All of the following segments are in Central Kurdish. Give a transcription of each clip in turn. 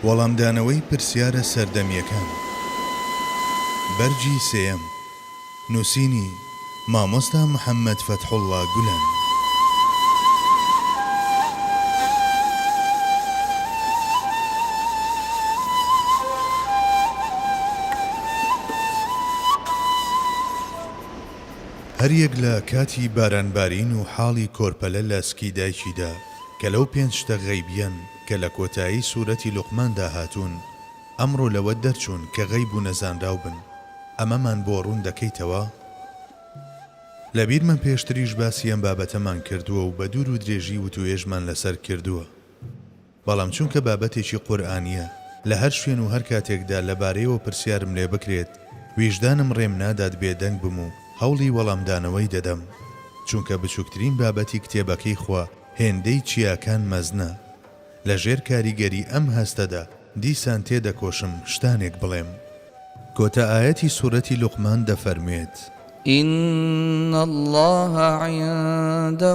وەڵامدانەوەی پرسیارە سەردەمییەکان بەرگی سێیەم نووسینی، مامۆستا محەممەد فەتحوڵڵا گولەن. هەریەک لە کاتی بارانبارین و حاڵی کۆرپەلە لە سکی دایکیدا، کە لەو پێنج شتە غەیبیەن کە لە کۆتایی سورەتی لوقماندا هاتوون، ئەمڕۆ لەوە دەرچوون کە غەیب و نەزانراو بن، ئەمەمان بۆ ڕوون دەکەیتەوە؟ لەبیرمە پێشتریش باسی ئەم بابەتەمان کردووە و بە دوور و درێژی وتووێژمان لەسەر کردووە، بەڵام چونکە بابەتێکی قورئانییە لە هەر شوێن و هەر کاتێکدا لەبارەیەوە پرسیارم لێ بکرێت ویژدانم ڕێم نادات بێدەنگ بم و هەوڵی وەڵامدانەوەی دەدەم، چونکە بچووکترین بابەتی کتێبەکەی خوا هێندەی چیاکان مەزنە. لە ژێر کاریگەری ئەم هەستەدا دیسان تێدەکۆشم شتانێک بڵێم. کۆتا ئایەتی سورەتی لوقمان دەفەرموێت. ان اللە عندە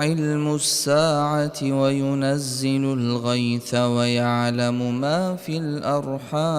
علم الساعە وینزل الغیث ویعلم ما فی الارحام.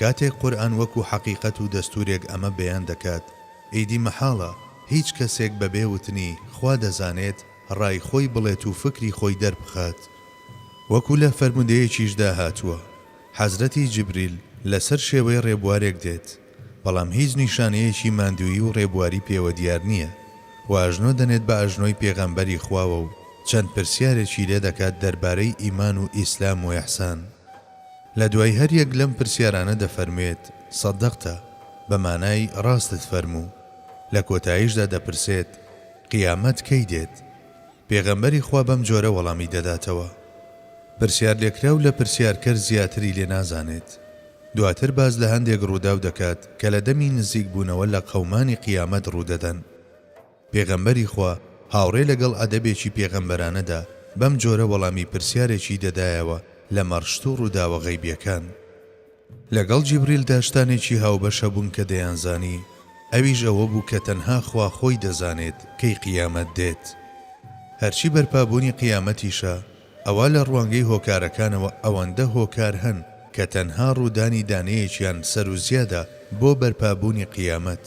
کاتێک قورئان وەکو حەقیقەت و دەستورێک ئەمە بەیان دەکات ئیدی مەحاڵە هیچ کەسێک بەبێ وتنی خوا دەزانێت ڕای خۆی بڵێت و فکری خۆی دەربخات وەکو لە فەرمودەیەکیشدا هاتووە حەزرەتی جبریل لەسەر شێوەی ڕێبوارێک دێت بەڵام هیچ نیشانەیەکی ماندوویی و ڕێبواری پێوە دیار نییە و ئەژنۆ دەنێت بە ئەژنۆی پێغەمبەری خواوە و چەند پرسیارێکی لێ دەکات دەربارەی ئیمان و ئیسلام و ئیحسان. لە دوای هەر یەک لەم پرسیارانە دەفەرموێت، صدقت، بە مانای ڕاستت فەرموو. لە کۆتاییشدا دەپرسێت، قیامەت کەی دێت؟ پێغەمبەری خوا بەم جۆرە وەڵامی دەداتەوە. پرسیارلێکراو لە پرسیارکەر زیاتری لێ نازانێت. دواتر باس لە هەندێک ڕووداو دەکات کە لە دەمی نزیکبوونەوە لە قەومانی قیامەت ڕوودەدەن. پێغەمبەری خوا هاوڕێ لەگەڵ ئەدەبێکی پێغەمبەرانەدا بەم جۆرە وەڵامی پرسیارێکی دەدایەوە لە مەڕشت و ڕووداوە غەیبیەکان. لەگەڵ جیبریلدا شتانێکی هاوبەش هەبوون کە دەیانزانی، ئەویش ئەوە بوو کە تەنها خوا خۆی دەزانێت کەی قیامەت دێت. هەرچی بەرپابوونی قیامەتیشە، ئەوا لە ڕوانگەی هۆکارەکانەوە ئەوەندە هۆکار هەن کە تەنها ڕوودانی دانەیەکیان سەروزیادە بۆ بەرپابوونی قیامەت.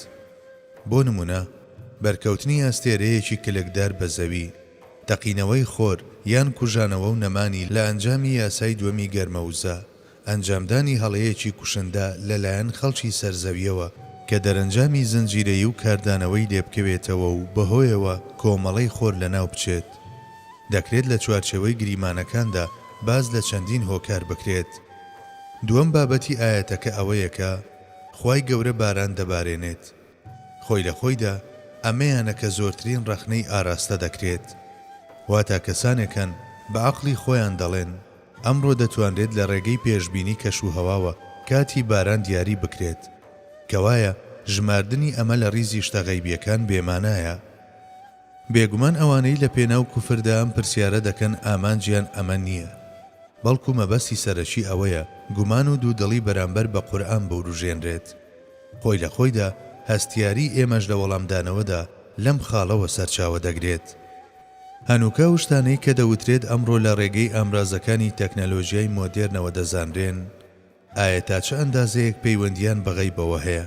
بۆ نموونە، بەرکەوتنی ئەستێرەیەکی کلکدار بە زەوی، تەقینەوەی خۆر، یان کوژانەوە و نەمانی لە ئەنجامی یاسای دووەمی گەرمەوزە، ئەنجامدانی هەڵەیەکی کوشندە لەلایەن خەڵکی سەر زەویەوە، کە دەرەنجامی زنجیرەیی و کاردانەوەی لێبکەوێتەوە و بەهۆیەوە کۆمەڵەی خۆر لەناو بچێت. دەکرێت لە چوارچێوەی گریمانەکاندا باس لە چەندین هۆکار بکرێت. دووەم بابەتی ئایەتەکە ئەوەیە کە، خوای گەورە باران دەبارێنێت. خۆی لە خۆیدا ئەمەیانە کە زۆرترین ڕەخنەی ئاراستە دەکرێت. واتا کەسانێکن بە عەقڵی خۆیان دەڵێن، ئەمڕۆ دەتوانرێت لە ڕێگەی پێشبینی کەش و هەواوە کاتی باران دیاری بکرێت. کەوایە ژماردنی ئەمە لە ڕیزی شتە غەیبییەکان بێمانایە. بێگومان ئەوانەی لە پێناو کوفردا ئەم پرسیارە دەکەن ئامانجیان ئەمە نییە، بەڵکو مەبەستی سەرەکی ئەوەیە گومان و دوودڵی بەرامبەر بە قورئان بوروژێنرێت. خۆی لە خۆیدا هەستیاریی ئێمەش لە وەڵامدانەوەدا لەم خاڵەوە سەرچاوە دەگرێت. هەنووکە ئەو شتانەی کە دەوترێت ئەمڕۆ لە ڕێگەی ئامرازەکانی تەکنەلۆژیای مۆدێرنەوە دەزانرێن، ئایا تا چ ئەندازەیەک پەیوەندییان بە غەیبەوە هەیە؟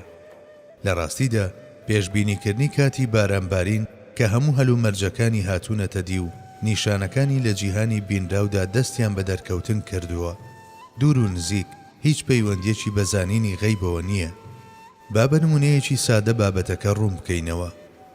لە ڕاستیدا پێشبینیکردنی کاتی بارانبارین کە هەموو هەلومەرجەکانی هاتوونەتە دی و نیشانەکانی لە جیهانی بینراودا دەستیان بە دەرکەوتن کردووە، دوور و نزیک هیچ پەیوەندییەکی بە زانینی غەیبەوە نییە. با بە نموونەیەکی سادە بابەتەکە ڕوون بکەینەوە.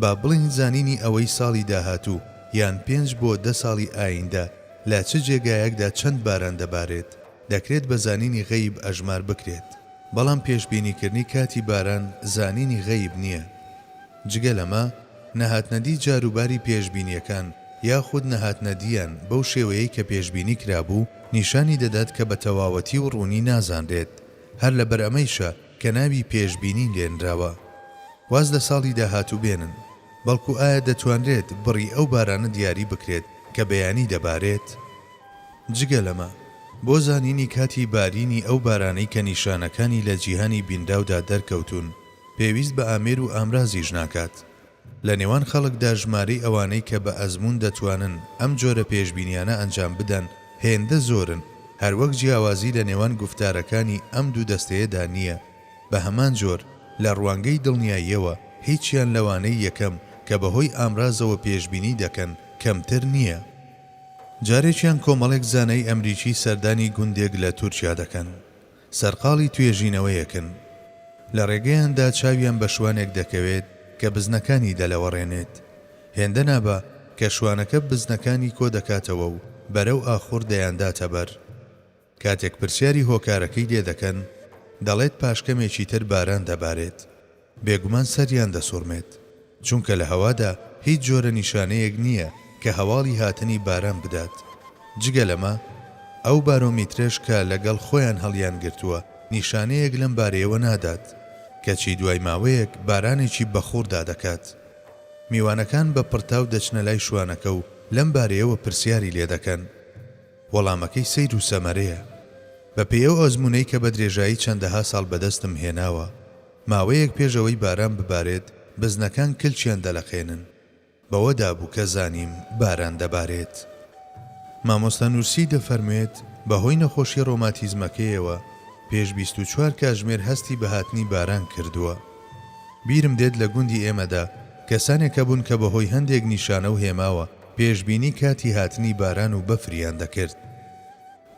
با بڵێین زانینی ئەوەی ساڵی داهاتوو یان پێنج بۆ دە ساڵی ئاییندە لە چ جێگایەکدا چەند باران دەبارێت، دەکرێت بە زانینی غەیب ئەژمار بکرێت، بەڵام پێشبینیکردنی کاتی باران زانینی غەیب نییە. جگە لەمە، نەهاتنەدی جاروباری پێشبینییەکان یاخود نەهاتنەدییان بەو شێوەیەی کە پێشبینی کرابوو، نیشانی دەدات کە بە تەواوەتی و ڕوونی نازانرێت، هەر لەبەر ئەمەیشە، کە ناوی پێشبینی لێنراوە واز لە ساڵی داهاتوو بێنن، بەڵکو ئایا دەتوانرێت بڕی ئەو بارانە دیاری بکرێت کە بەیانی دەبارێت؟ جگە لەمە، بۆ زانینی کاتی بارینی ئەو بارانەی کە نیشانەکانی لە جیهانی بینراودا دەرکەوتوون، پێویست بە ئامێر و ئامرازیش ناکات. لە نێوان خەڵکدا ژمارەی ئەوانەی کە بە ئەزموون دەتوانن ئەم جۆرە پێشبینیانە ئەنجام بدەن هێندە زۆرن، هەروەک جیاوازی لە نێوان گوفتارەکانی ئەم دوو دەستەیەدا نییە، بە هەمان جۆر لە ڕوانگەی دڵنیاییەوە هیچیان لەوانەی یەکەم کە بە هۆی ئامرازەوە پێشبینی دەکەن کەمتر نییە. جارێکیان کۆمەڵێک زانای ئەمریکی سەردانی گوندێک لە تورکیا دەکەن. سەرقاڵی توێژینەوەیەکن. لە ڕێگەیاندا چاویان بە شوانێک دەکەوێت کە بزنەکانی دەلەوەڕێنێت. هێندە نابا کە شوانەکە بزنەکانی کۆدەکاتەوە و بەرەو ئاخوڕ دەیانداتە بەر. کاتێک پرسیاری هۆکارەکەی لێدەکەن، دەڵێت پاشکەمێکی تر باران دەبارێت. بێگومان سەریان دەسوڕمێت، چونکە لە هەوادا هیچ جۆرە نیشانەیەک نییە کە هەواڵی هاتنی باران بدات. جگە لەمە، ئەو بارۆمیترەش کە لەگەڵ خۆیان هەڵیانگرتووە نیشانەیەک لەم بارەیەوە نادات، کەچی دوای ماوەیەک بارانێکی بەخوڕ دادەکات. میوانەکان بە پڕتاو دەچنە لای شوانەکە و لەم بارەیەوە پرسیاری لێ دەکەن. وەڵامەکەی سەیر و سەمەرەیە، بەپێی ئەو ئەزموونەی کە بە درێژایی چەندەها ساڵ بەدەستم هێناوە، ماوەیەک پێش ئەوەی باران ببارێت بزنەکان کلکیان دەلەقێنن بەوەدا بوو کە زانیم باران دەبارێت. مامۆستا نورسی دەفەرموێت بەهۆی نەخۆشی ڕۆماتیزمەکەیەوە پێش بیست و چوار کاژمێر هەستی بە هاتنی باران کردووە. بیرم دێت لە گوندی ئێمەدا کەسانێک هەبوون کە بەهۆی هەندێک نیشانە و هێماوە پێشبینی کاتی هاتنی باران و بەفریان دەکرد.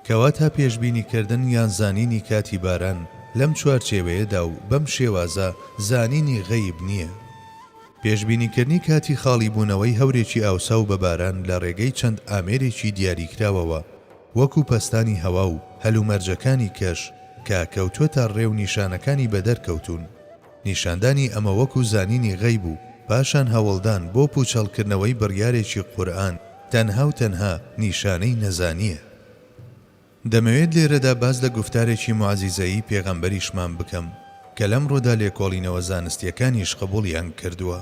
کەواتە پێشبینی کردن یان زانینی کاتی باران لەم چوارچێوەیەدا و بەم شێوازە زانینی غەیب نییە. پێشبینیکردنی کاتی خاڵی بوونەوەی هەورێکی ئاوساو بە باران لە ڕێگەی چەند ئامێرێکی دیاریکراوەوە وەکو پەستانی هەوا و هەلومەرجەکانی کەش کە کەوتووەتە ڕێ و نیشانەکانی بەدەر کەوتوون، نیشاندانی ئەمە وەکو زانینی غەیب و پاشان هەوڵدان بۆ پوچەڵکردنەوەی بڕیارێکی قورئان تەنها و تەنها نیشانەی نەزانییە. دەمەوێت لێرەدا باس لە گوفتارێکی موعجیزەیی پێغەمبەریشمان بکەم کە لەمڕۆدا لێکۆڵینەوە زانستییەکانیش قبوڵیان کردووە.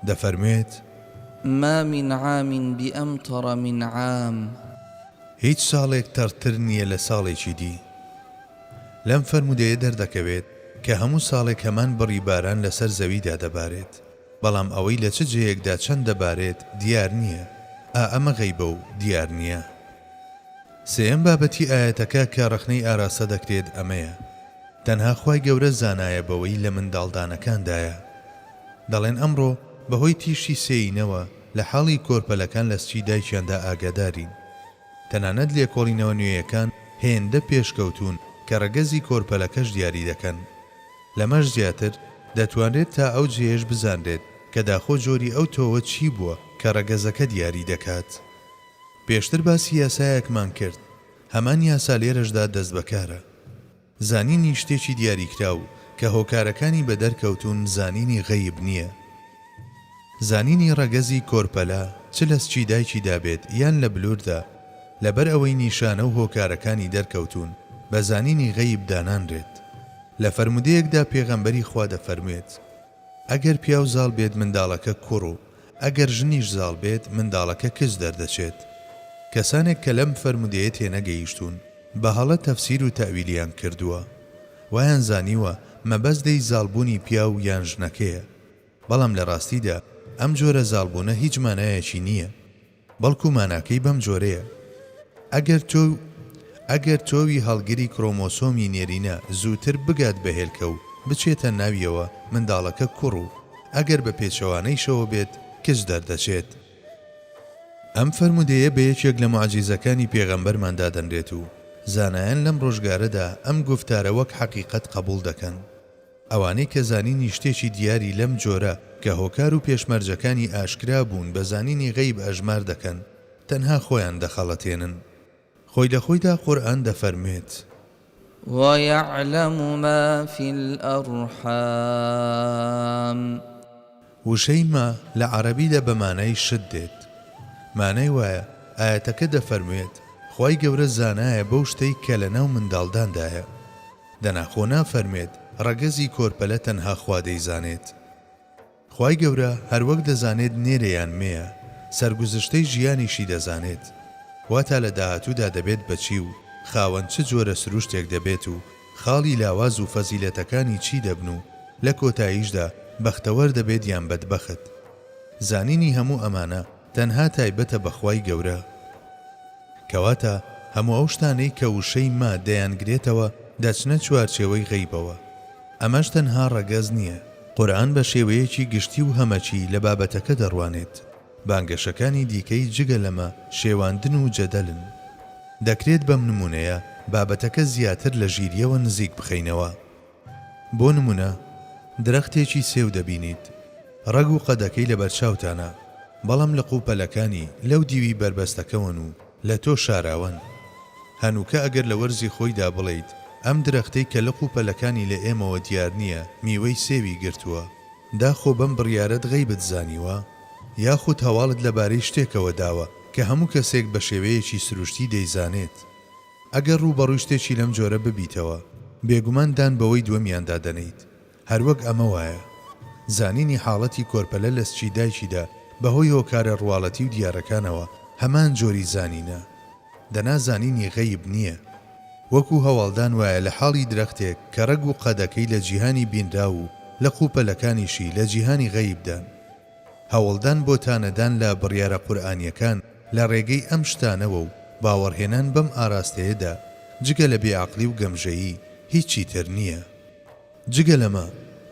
دەفەرموێت. ما من عام بامطر من عام. هیچ ساڵێک تەڕتر نییە لە ساڵێکی دی. لەم فەرموودەیە دەردەکەوێت کە هەموو ساڵێک هەمان بڕی باران لەسەر زەویدا دەبارێت، بەڵام ئەوەی لە چ جێیەکدا چەند دەبارێت دیار نییە، ئا ئەمە غەیبە و دیار نییە. سێیەم بابەتی ئایەتەکە کە ڕەخنەی ئاراستە دەکرێت ئەمەیە، تەنها خوای گەورە زانایە بەوەی لە منداڵدانەکاندایە. دەڵێن ئەمڕۆ بەهۆی تیشکی سێینەوە لە حاڵی کۆرپەلەکان لە سکی دایکیاندا ئاگادارین، تەنانەت لێکۆڵینەوە نوێیەکان هێندە پێشکەوتوون کە ڕەگەزی کۆرپەلەکەش دیاری دەکەن. لەمەش زیاتر، دەتوانرێت تا ئەو جێیەش بزانرێت کە داخۆ جۆری ئەو تۆوە چی بووە کە ڕەگەزەکە دیاری دەکات. پێشتر باسی یاسایەکمان کرد، هەمان یاسا لێرەشدا دەستبەکارە. زانینی شتێکی دیاریکراو کە هۆکارەکانی بەدەرکەوتوون زانینی غەیب نییە. زانینی ڕەگەزی کۆرپەلە چ لە سکی دایکیدا بێت یان لە بلووردا، لەبەر ئەوەی نیشانە و هۆکارەکانی دەرکەوتوون، بە زانینی غەیب دانانرێت. لە فەرموودەیەکدا پێغەمبەری خوا دەفەرموێت، ئەگەر پیاو زاڵ بێت منداڵەکە کوڕ و. ئەگەر ژنیش زاڵ بێت منداڵەکە کچ دەردەچێت. کەسانێک کە لەم فەرموودەیە تێنەگەیشتوون بە هەڵە تەفسیر و تەئویلیان کردووە. وایان زانیوە مەبەست لێی زاڵبوونی پیاو یان ژنەکەیە. بەڵام لە ڕاستیدا ئەم جۆرە زاڵبوونە هیچ مانایەکی نییە. بەڵکو ماناکەی بەم جۆرەیە، ئەگەر تۆ ئەگەر تۆوی هەڵگری کرۆمۆسۆمی نێرینە زووتر بگات بە هێلکە و بچێتە ناویەوە منداڵەکە کوڕ و ئەگەر بە پێچەوانەیشەوە بێت کچ دەردەچێت. ئەم فەرموودەیە بە یەکێک لە موعجیزەکانی پێغەمبەرمان دادەنرێت و زانایان لەم ڕۆژگارەدا ئەم گوفتارە وەک حەقیقەت قەبوڵ دەکەن. ئەوانەی کە زانینی شتێکی دیاری لەم جۆرە کە هۆکار و پێشمەرجەکانی ئاشکرا بوون بە زانینی غەیب ئەژمار دەکەن، تەنها خۆیان دەخەڵەتێنن. خۆی لە خۆیدا قورئان دەفەرموێت. وَیَعْلَمُ مَا فِی الْأَرْحَامِ. وشەی ما لە عەرەبیدا بە مانای شت دێت. مانای وایە ئایەتەکە دەفەرموێت، خوای گەورە زانایە بەو شتەی کە لە ناو منداڵداندایە. دەنا خۆ نافەرموێت ڕەگەزی کۆرپەلە تەنها خوا دەیزانێت. خوای گەورە هەروەک دەزانێت نێرە یان مێیە، سەرگوزشتەی ژیانیشی دەزانێت. واتا لە داهاتوودا دەبێت بە چی و خاوەن چ جۆرە سروشتێک دەبێت و خاڵی لاواز و فەزیلەتەکانی چی دەبن و لە کۆتاییشدا بەختەوەر دەبێت یان بەدبەخت؟ زانینی هەموو ئەمانە تەنها تایبەتە بە خوای گەورە. کەواتە هەموو ئەو شتانەی کە وشەی ما دەیانگرێتەوە دەچنە چوارچێوەی غەیبەوە. ئەمەش تەنها ڕەگەز نییە. قورئان بە شێوەیەکی گشتی و هەمەکی لە بابەتەکە دەڕوانێت. بانگەشەکانی دیکەی جگە لەمە شێواندن و جەدەلن. دەکرێت بەم نموونەیە بابەتەکە زیاتر لە ژیرییەوە نزیک بخەینەوە. بۆ نموونە، درەختێکی سێو دەبینیت، ڕەگ و قەدەکەی لەبەرچاوتانە، بەڵام لق و پەلەکانی لەو دیوی بەربەستەکەوەن و لە تۆ شاراوەن. هەنووکە ئەگەر لە وەرزی خۆیدا بڵێیت ئەم درەختەی کە لق و پەلەکانی لە ئێمەوە دیار نییە میوەی سێوی گرتووە، داخۆ بەم بڕیارەت غەیبت زانیوە؟ یاخود هەواڵت لەبارەی شتێکەوە داوە کە هەموو کەسێک بە شێوەیەکی سروشتی دەیزانێت. ئەگەر ڕووبەڕووی شتێکی لەم جۆرە ببیتەوە، بێگومان دان بەوەی دووەمیاندا دەنێیت. هەروەک ئەمە وایە. زانینی حاڵەتی کۆرپەلە لە سکی دایکیدا بەهۆی هۆکارە ڕواڵەتی و دیارەکانەوە هەمان جۆری زانینە. دەنا زانینی غەیب نییە. وەکو هەواڵدان وایە لە حاڵی درەختێک کە ڕەگ و قەدەکەی لە جیهانی بینراو و لە قووپەلەکانیشی لە جیهانی غەیبدان. هەوڵدان بۆ تانەدان لە بڕیارە قورئانییەکان لە ڕێگەی ئەم شتانەوە و باوەڕهێنان بەم ئاراستەیەدا، جگە لە بێعەقڵی و گەمژەیی هیچی تر نییە. جگە لەمە،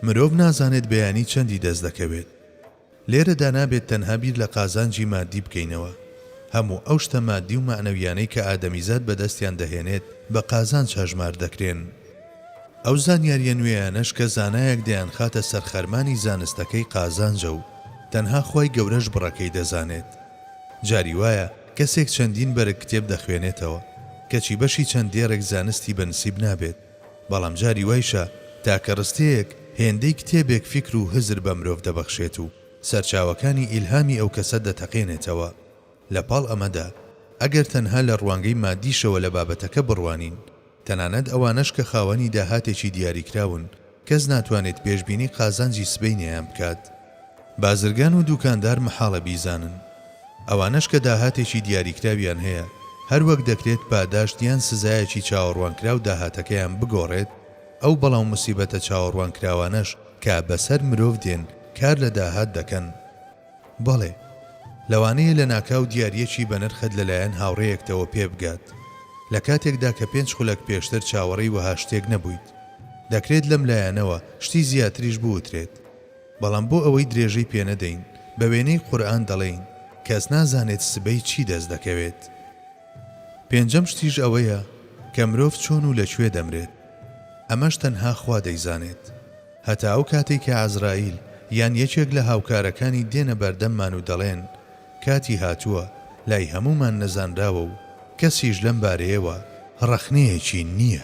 مرۆڤ نازانێت بەیانی چەندی دەست دەکەوێت. لێرەدا نابێت تەنها بیر لە قازانجی ماددی بکەینەوە. هەموو ئەو شتە ماددی و مەعنەوییانەی کە ئادەمیزاد بەدەستیان دەهێنێت بە قازانج هەژمار دەکرێن. ئەو زانیارییە نوێیانەش کە زانایەک دەیانخاتە سەر خەرمانی زانستەکەی قازانجە و تەنها خوای گەورەش بڕەکەی دەزانێت. جاری وایە کەسێک چەندین بەرگ کتێب دەخوێنێتەوە، کەچی بەشی چەند دێڕێک زانستی بە نسیب نابێت، بەڵام جاری وایشە تاکە ڕستەیەک هێندەی کتێبێک فیکر و هزر بە مرۆڤ دەبەخشێت و سەرچاوەکانی ئیلهامی ئەو کەسە دەتەقێنێتەوە. لە پاڵ ئەمەدا، ئەگەر تەنها لە ڕوانگەی مادیشەوە لە بابەتەکە بڕوانین، تەنانەت ئەوانەش کە خاوەنی داهاتێکی دیاریکراون، کەس ناتوانێت پێشبینی قازانجی سبەینێیان بکات. بازرگان و دوکاندار مەحاڵە بیزانن. ئەوانەش کە داهاتێکی دیاریکراویان هەیە، هەر وەک دەکرێت پاداشت یان سزایەکی چاوەڕوانکراو داهاتەکەیان بگۆڕێت، ئەو بەڵا و موسیبەتە چاوەڕوانکراوانەش کە بەسەر مرۆڤ دێن، کار لە داهات دەکەن. بەڵێ، لەوانەیە لەناکاو دیارییەکی بەنرخت لەلایەن هاوڕێیەکتەوە پێبگات، لە کاتێکدا کە پێنج خولەک پێشتر چاوەڕێی وەها شتێک نەبوویت. دەکرێت لەم لایەنەوە شتی زیاتریش بوترێت، بەڵام بۆ ئەوەی درێژەی پێنەدەین، بە وێنەی قورئان دەڵێین، کەس نازانێت سبەی چی دەست دەکەوێت. پێنجەم شتیش ئەوەیە کە مرۆڤ چۆن و لە کوێ دەمرێت، ئەمەش تەنها خوا دەیزانێت. هەتا ئەو کاتەی کە عەزراییل یان یەکێک لە هاوکارەکانی دێنە بەردەممان و دەڵێن، کاتی هاتووە، لای هەموومان نەزانراوە و کەسیش لەم بارەیەوە ڕەخنەیەکی نییە.